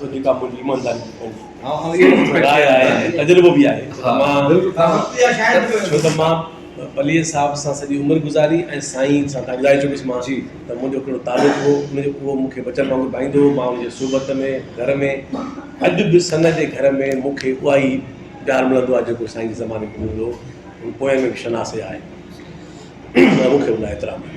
ته جيڪا منهنجي ايمانداري جي پنهنجي راء آهي ۽ تجربو به آهي ڇو ته مان پليجي صاحب سان سڄي عمر گذاري ۽ سائين سان تان ٻڌائي چڪس مان ته منهنجو ڪهڙو تعلق هو ان جو اهو مون کي بچن وانگر ڀائيندو هو مان ان جي صحبت ۾ گهر ۾ اڄ به سن جي گهر ۾ مون کي اها ئي پيار ملندو آهي جيڪو سائين جي زماني ۾ ملندو هو ان پوئين ۾ به شناسي آهي ۽ مون کي ان لاء احترام آهي.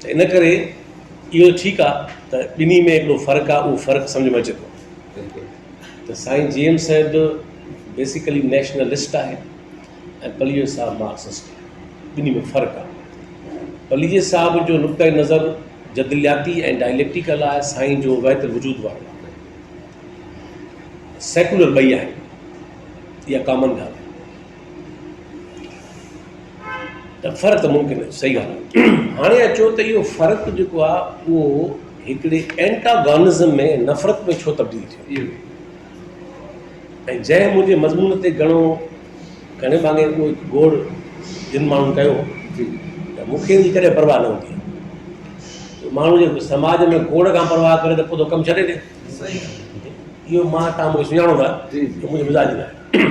ته ان ڪري اهو ته ٺيڪ آ ته ٻنهي ۾ هڪڙو فرق آ اهو فرق سمجهه ۾ اچي ٿو ته سائين جي ايم صاحب بيسيڪلي نيشنلسٽ آهي ۽ پليجي صاحب مارڪسسٽ آهي ٻنهي ۾ فرق آ پليجي صاحب جو نقطه نظر جدلياتي ۽ ڊائليڪٽيڪل آهي سائين جو وحدت الوجود وارو آهي سيڪولر ٻئي آهن اها ڪامن ڳالهه آهي ته فرق ممڪن آهي صحيح ڳالهه آهي هاڻي اچو ته اهو فرق جيڪو آهي اهو هڪڙي اينٽاگانزم ۾ نفرت ۾ ڇو تبديل ٿيو ۽ جنهن منهنجي مضمون تي گهڻو گهڻي مانگي اهو گوڙ جن ماڻهن ڪيو جي ته مونکي ان ڪري پرواهه نه هوندي آهي ماڻهو جي سماج ۾ گوڙ کان پرواهه ڪري ته پوء تو ڪم ڇڏي ڏي اهو مان تان مونکي سڃاڻو ٿا جي منهنجو مزاج نه آهي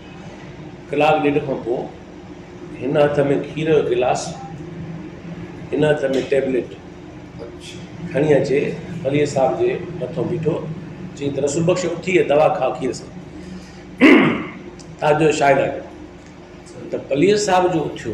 ڪلاڪ ڏيڍ کان پوء هن هٿ ۾ کير جو گلاس هن هٿ ۾ ٽيبليٽ کڻي اچي وليء صاحب جي مٿو بيٺو چيائين ته رسول بخش اٿي هي دوا کاء کير سان تاجو شاهد آهي ته وليء صاحب جو اٿيو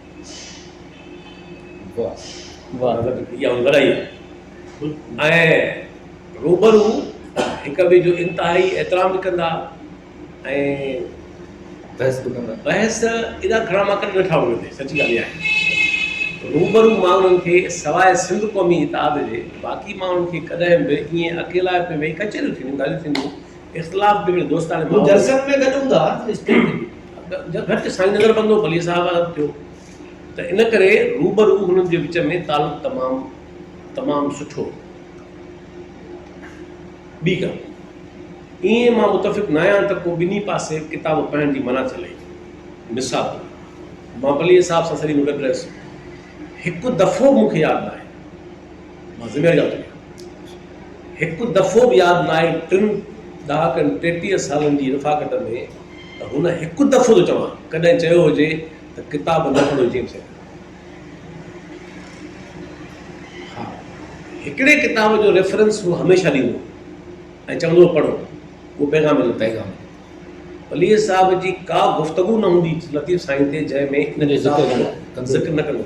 روبرو هڪ ٻئي جو انتهائي احترام به ڪندا ۽ بحث ايڏا گهڻا مان ڪڏهن ويٺا هئم هتي سچي ڳالهه اها آهي روبرو ماڻهن کي سواء سنڌ قومي اتحاد جي باقي ماڻهن کي ڪڏهن به ائين اڪيلا پئي ويهي ڪچهريون ٿينديون ڳالهيون ٿينديون اختلاف به هڪڙي دوستاڻي ماحول ۾ گهٽ سائين نظر بندو پليء صاحب وارو ٿيو ته ان ڪري روبرو هنن جي وچ ۾ تعلق تمام تمام سٺو هو ٻي ڳالهه ائين مان متفق نه آهيان ته ڪو ٻنهي پاسي ڪتاب پڙهڻ جي منع چلي مثال مان پليء صاحب سان سڄي عمر گڏ رهيس هڪ دفعو مون کي ياد آهي مان ضلعي جا ٿو هڪ دفعو به ياد نه آهي ٽن ڏهاڪن ٽيٽيهه سالن جي رفاقت ۾ ته هن هڪ دفعو ٿو چوان ڪڏهن چيو هجي ته ڪتاب نه پڙهيو جيمس هيڊ ها هڪڙي ڪتاب جو ريفرنس هو هميشه ڏيندو ۽ چوندو هو پڙهو اهو پيغام جو پيغام ولي صاحب جي ڪا گفتگو نه هوندي لطيف سائين تي جنهن ۾ ذڪر نه ڪندو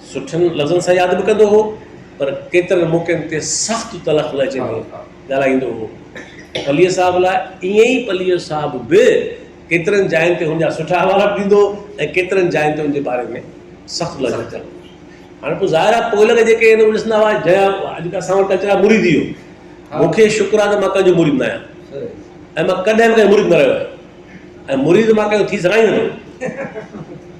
سٺن لفظن سان ياد به ڪندو هو، پر ڪيترن موقعن تي سخت تلخ لهجي ۾ ڳالهائيندو هو. پليء صاحب لاء ائين ئي پليء صاحب به ڪيترن جاين تي هن جا سٺا حوالا به ڏيندو هو ۽ ڪيترن جاين تي هن جي باري ۾ سخت لهجو ڪندو هو. هاڻ پوء ظاهر آهي پوئلڳ جيڪي هن ڏسندا هئا جنهن اڄ اسان وٽ اچڻ جا مريد ئي هو. مون کي شڪر آهي ته مان ڪنهن جو مريد نه آهيان ۽ مان ڪڏهن به ڪنهن جو مريد نه رهيو آهيان ۽ مريد مان ڪنهن جو ٿي سگهان ئي نٿو.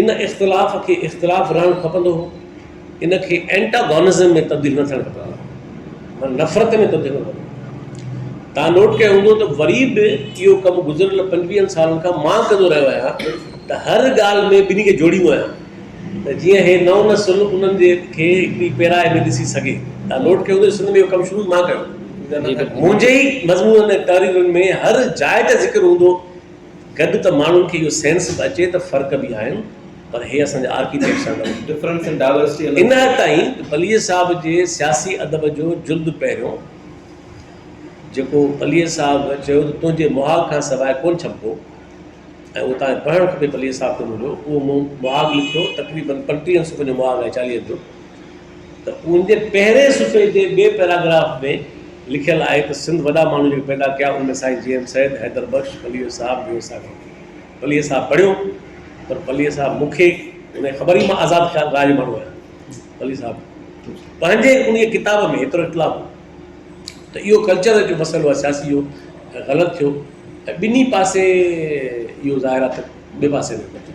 ان اختلاف کي اختلاف رهڻ کپندو هو، ان کي Antagonism ۾ تبديل نه ٿيڻ کپندو هو، معنيٰ نفرت ۾ تبديل نه ٿيڻ کپندو. توهان نوٽ ڪيو هوندو ته وري به اهو ڪم گذريل پنجويهن سالن کان مان ڪندو رهيو آهيان ته هر ڳالهه ۾ ٻنهي کي جوڙيندو آهيان ته جيئن هي نئون نسل انهن جي کي هڪڙي پيرائي ۾ ڏسي سگهي. توهان نوٽ ڪيو هوندو ته سنڌ ۾ اهو ڪم شروع مان ڪيو. منهنجي ئي مضمونن ۽ تحريرن ۾ هر جاء تي ذڪر هوندو گڏ ته ماڻهن کي اهو سينس به اچي ته فرق به آهن پر هي اسان جا آرڪيٽيڪٽ سان گڏ Difference in Diversity الڳ ان حد تائين ته پليجي صاحب جي سياسي ادب جو جلد پهريون جيڪو پليجي صاحب چيو ته تنهنجي مهاڳ کان سواء ڪونه ڇپبو ۽ اهو توهان کي پڙهڻ کپي پليجي صاحب تي منهنجو اهو مون مهاڳ لکيو تقريبن پنٽيهن صفحن جو مهاڳ آهي چاليهن جو ته ان جي پهرين صفحي جي ٻئي پيراگراف ۾ لکيل آهي ته سنڌ وڏا ماڻهو جيڪي پيدا ڪيا ان ۾ سائين جي ايم سيد، حيدر بخش، پليو صاحب جو حصا ڪونه ٿي. پليو صاحب پڙهيو پر پليو صاحب مون کي انهيء خبر ئي مان آزاد خيال راء جو ماڻهو آهيان. پليو صاحب پنهنجي انهيء ڪتاب ۾ ايترو اطلاع هو ته اهو ڪلچر جو مسئلو آهي سياسي جو ۽ غلط ٿيو ۽ ٻنهي پاسي اهو ظاهر آهي ته ٻئي پاسي ۾ ڪو ٿيو.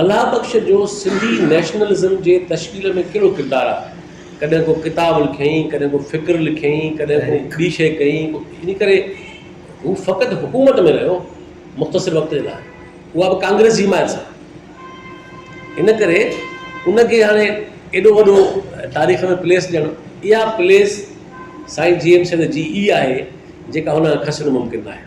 الله بخش جو سنڌي نيشنلزم جي تشڪيل ۾ ڪهڙو ڪردار آهي؟ ڪڏهن ڪو ڪتاب لکيائين، ڪڏهن ڪو فڪر لکيائين، ڪڏهن ڪو ٻي شيء ڪيائين، ان ڪري هو فقط حڪومت ۾ رهيو مختصر وقت جي لاء، اها به ڪانگريس جي حمايت سان. ان ڪري ان کي هاڻي ايڏو وڏو تاريخ ۾ پليس ڏيڻ، اها پليس سائين جي ايم سيد جي ئي آهي، جيڪا هن کسڻ ممڪن ناهي.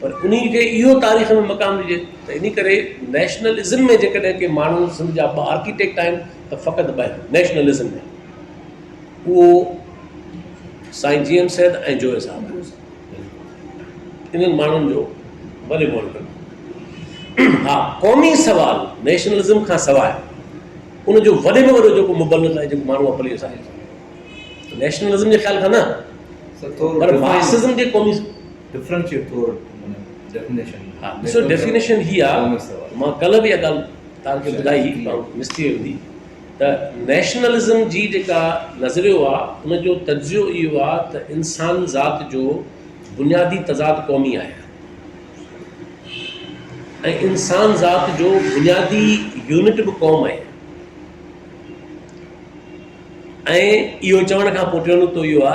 پر انهي کي اهو تاريخ ۾ مقام ڏجي ته انهي ڪري نيشنلزم ۾ جيڪڏهن ڪي ماڻهو سنڌ جا ٻه آرڪيٽيڪٽ آهن ته فقط ٻه آهن نيشنلزم ۾ اهو سائين جي ايم سيد ۽ جويي صاحب انهن ماڻهن جو ڀلي مول ڪن ها قومي سوال نيشنلزم کان سواء ان جو وڏي ۾ وڏو جيڪو مبلغ آهي جيڪو ماڻهو اپليو سان نيشنلزم جي خيال کان نه پر مارڪسزم جي قومي ڊفرنشيٽ ٿور معنيٰ ڊيفينيشن ها ڏسو ڊيفينيشن هي آ مان کل به اها ڳالهه توهان کي ٻڌائي پر مس ٿي وئي هوندي ته نيشنلزم جي جيڪا نظريو آ ان جو تجزيو اهو آ ته انسان ذات جو بنيادي تضاد قومي آهي ۽ انسان ذات جو بنيادي يونٽ به قوم آهي ۽ اهو چوڻ کان پوء ٽيون نقطو اهو آ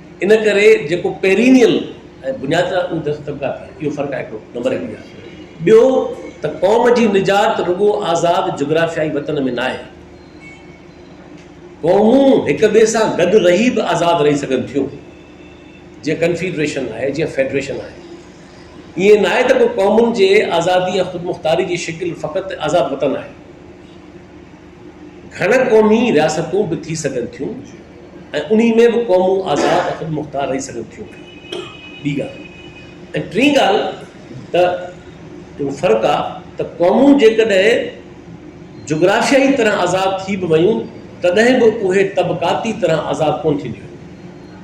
ان ڪري جيڪو پيرينيل ۽ بنيادي طاقتون دست طبقا ٿي اهو فرق آهي هڪڙو نمبر هڪ ڳالهه ٻيو ته قوم جي نجات رڳو آزاد جغرافيائي وطن ۾ ناهي قومون هڪ ٻئي سان گڏ رهي به آزاد رهي سگهن ٿيون جيئن ڪنفيڊريشن آهي جيئن فيڊريشن آهي ائين ناهي ته ڪو قومن جي آزادي يا خود مختاري جي شڪل فقط آزاد وطن آهي گهڻ قومي رياستون به ٿي سگهن ٿيون ۽ انهي ۾ به قومون آزاد ۽ خودمختار رهي سگهن ٿيون ٻي ڳالهه ۽ ٽين ڳالهه ته جيڪو فرق آ ته قومون جيڪڏهن جغرافيائي طرح آزاد ٿي به ويون تڏهن به اهي طبقاتي طرح آزاد ڪونه ٿينديون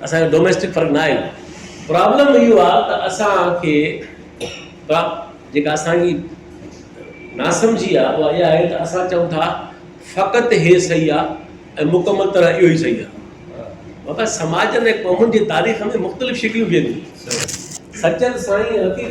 اسان جو ڊوميسٽڪ فرق ناهي پرابلم اهو آ ته اسان کي جيڪا اسان جي ناسمجهي آ اها اها آهي ته اسان چئون ٿا فقط هي صحيح آ ۽ مڪمل طرح اهو ئي صحيح آ مگر سماجن ۽ قومن جي تاريخ ۾ مختلف شڪليون بيهن ٿيون سچل سائين حقيقت